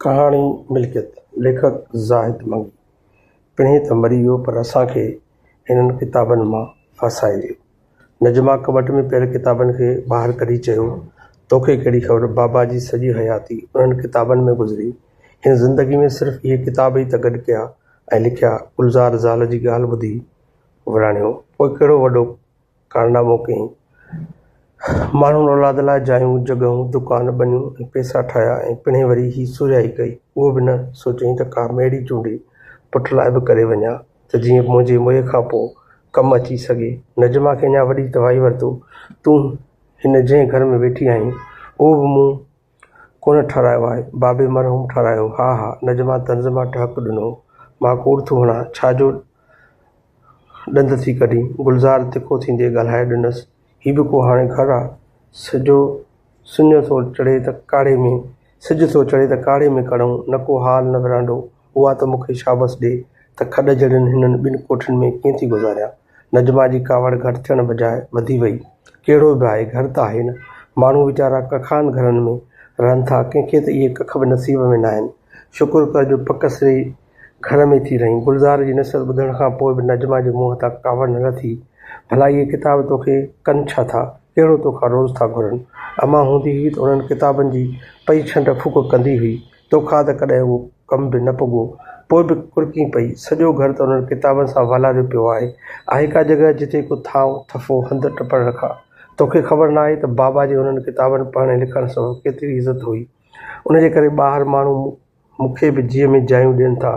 ڪهاڻي ملڪيت، ليکڪ زاهد منگي پڻهين ته مري ويو پر اسان کي هنن ڪتابن مان ڦاسائي ويو. نجمه ڪٻٽ ۾ پيل ڪتابن کي ٻاهر ڪڍي چيو، توکي ڪهڙي خبر بابا جي سڄي حياتي انهن ڪتابن ۾ گذري، هن زندگي ۾ صرف اهي ڪتاب ئي ته گڏ ڪيا ۽ لکيا گلزار زال جي ڳالهه ٻڌي وراڻيو، پوء ڪهڙو وڏو ڪارنامو ڪيائين. ماڻهن اولاد لاء جايون، جڳهون، دڪان، ٻنيون ۽ پئسا ٺاهيا ۽ پڻهين وري هي سورهيائي ڪئي. اهو به نه سوچيائين ته ڪا ميڙي چونڊي پٽ لاء به ڪري وڃان ته جيئن منهنجي موئي کان پوء ڪم اچي سگهي. نجمه کي اڃا وڏي توائي ورتو، تون هن جنهن گهر ۾ ويٺي آهين، اهو به مون ڪونه ٺارايو آهي. بابي مرحوم ٺارايو ها ها نجما طنز مان ٽهڪ ڏنو مان ڪوڙ ٿو هڻان ڇا جو ڏند ٿي ڪڍين گلزار تکو ٿيندي ڳالهائي ڏنس هي به ڪو هاڻي گهر آ سڄو سڃو ٿو چڙهي ته ڪاڙهي ۾ سج ٿو چڙهي ته ڪاڙهي ۾ ڪڙهون نه ڪو هال نه ورانڊو اها ته مون کي شابس ڏي ته کڏ جهڙين هنن ٻن ڪوٺين ۾ ڪيئن ٿي گذاريان. نجمه جي ڪاوڙ گهٽ ٿيڻ بجاء وڌي وئي. ڪهڙو به آهي، گهر ته آهي نه. ماڻهو ويچارا ڪکان گهرن ۾ رهن ٿا، ڪنهن کي ته اهي ڪک به نصيب ۾ ناهن. شڪر ڪر جو پڪ سري گهر ۾ ٿي رهين. گلزار جي نصيحت ٻڌڻ کان پوء به نجمه جي منهن تان ڪاوڙ نه لٿي. ڀلا اهي ڪتاب توکي ڪن ڇا ٿا؟ ڪهڙو توکان روز ٿا گهرن. امان هوندي هئي ته انهن ڪتابن جي پئي ڇنڊ ڦوڪ ڪندي هئي. توکان ته ڪڏهن اهو ڪم به نه پڳو، پوء به ڪرڪين پئي، سڄو گهر ته انهن ڪتابن سان والاريو پيو آهي. آهي ڪا جڳهه جتي ڪو ٿانء، ٿڦو، هنڌ ٽپڻ رکان؟ توکي خبر ناهي ته بابا جي انهن ڪتابن پڙهڻ ۽ لکڻ سبب ڪيتري عزت هئي. ان جي ڪري ٻاهر ماڻهو مون کي به جيء ۾ جايون ڏين ٿا.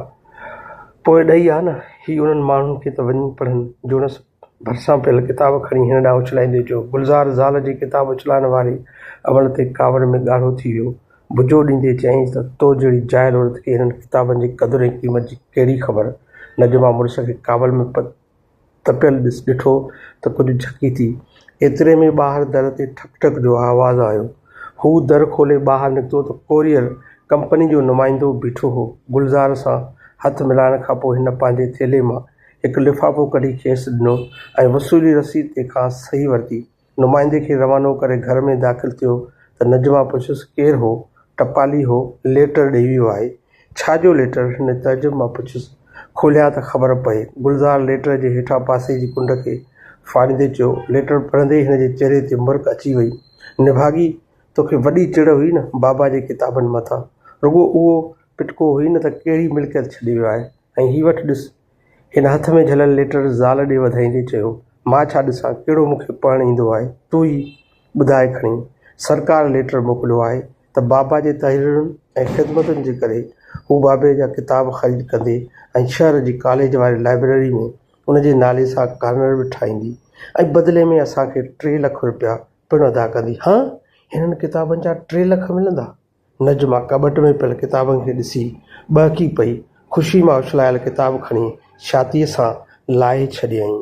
پوء ڏئي آ نه، هي انهن ماڻهن کي ته وڃي پڙهن جوڻس. ڀرسان پيل ڪتاب کڻي هن ڏانهن اڇلائيندي چيو. گلزار زال جي ڪتاب اڇلائڻ واري عمل تي ڪاوڙ ۾ ڳاڙهو ٿي ويو. بجو ڏيندي چيائينس ته تو جهڙي جاهل عورت کي هنن ڪتابن جي قدر ۽ قيمت جي ڪهڙي خبر؟ نه جو مان مڙس کي ڪاوڙ ۾ تپيل ڏٺو ته ڪجهه جهڪي ٿي. ايتري ۾ ٻاهر در تي ٺڪ ٺڪ جو آواز آيو. هو در کولي ٻاهر نڪتو ته ڪوريئر ڪمپني جو نمائندو بيٺو هو. گلزار سان هٿ ملائڻ کانپوء هن پنهنجي ٿيلهي مان هڪ لفافو ڪڍي کيس ڏنو ۽ وصولي رسيد تي کانئس صحيح ورتي. نمائندي کي روانو ڪري گهر ۾ داخل ٿيو ته نجمه پڇيس ڪير هو؟ ٽپالي هو، ليٽر ڏئي ويو آهي. ڇا جو ليٽر؟ هن تعجب مان پڇيس. کوليان ته خبر پئي. گلزار ليٽر جي هيٺان پاسي جي ڪنڊ کي ڦاڙيندي چيو. ليٽر پڙهندي ئي هن جي چهري تي مرڪ اچي وئي. نڀاڳي! توکي وڏي چڙ هئي نه بابا جي ڪتابن مٿان. رڳو اهو پٽڪو هئي نه ته ڪهڙي ملڪيت ڇڏي ويو آهي. ۽ هي وٺ ڏس. هن هٿ ۾ جهليل ليٽر زال ڏي وڌائيندي چيو، مان ڇا ڏسان ڪهڙو مون کي پڙهڻ ايندو آهي، تون ئي ٻڌاء کڻي. سرڪار ليٽر موڪليو آهي ته بابا جي تحريرن ۽ خدمتن جي ڪري هو بابي جا ڪتاب خريد ڪندي ۽ شهر جي ڪاليج واري لائبريري ۾ ان جي نالي سان ڪارنر به ٺاهيندي ۽ بدلي ۾ اسان کي ٽي لک روپيا پڻ ادا ڪندي. هه! هنن ڪتابن جا ٽي لک ملندا؟ نجمه ڪٻٽ ۾ پيل ڪتابن کي ڏسي ٻهڪي پئي. خوشي مان اڇلايل ڪتاب کڻي ڇاتيء سان لاهي ڇڏيائين.